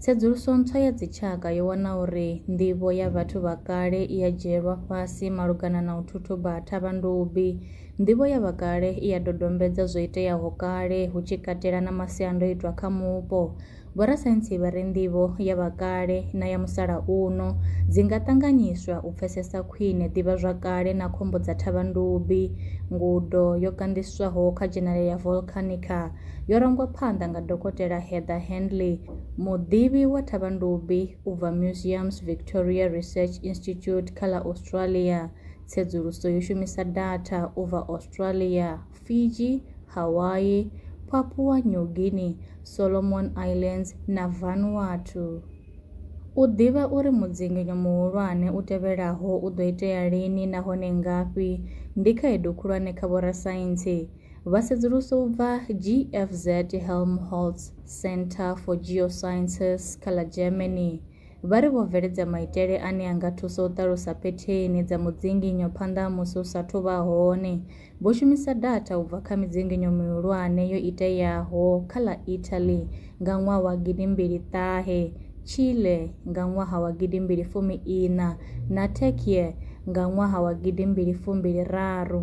Tsedzuluso ntswa ya dzitshaka yo wana uri nḓivho ya vhathu vha kale i a dzhielwa fhasi malugana na u thuthuba ha thavhandubi. Nḓivho ya vha kale i a dodombedza zwo iteaho kale, hu tshi katela na masiandoitwa kha mupo. Vhorasaintsi vha ri nḓivho ya vha kale na ya musalauno dzi nga ṱanganyiswa u pfesesa khwine ḓivhazwakale na khombo dza thavhandubi. Ngudo yo kanḓiswaho kha Journal ya Volcanica. yo rangwa phanḓa nga Dokotela Heather Handley, muḓivhi wa thavhandubi u bva Museums Victoria Research Institute kha ḽa Australia. Tsedzuluso yo shumisa datha u bva Australia, Fiji, Hawaii, Papua New Guinea, Solomon Islands na Vanuatu. U ḓivha uri mudzinginyo muhulwane u tevhelaho u ḓo itea lini nahone ngafhi ndi khaedu khulwane kha vhorasaintsi. Vha sedzulusa u bva GFZ Helmholtz Centre for Geosciences kha ḽa Germany vha ri vho bveledza maitele ane a nga thusa u ṱalusa phetheni dza mudzinginyo phanḓa ha musi u sa athu vha hone. Vho shumisa datha u bva kha midzinginyo mihulwane yo iteaho kha ḽa Italy nga ṅwaha wa gidi mbili ṱahe, Chile nga ṅwaha wa gidi mbili fumi iṋa na Türkiye nga ṅwaha wa gidi mbili fumbili raru.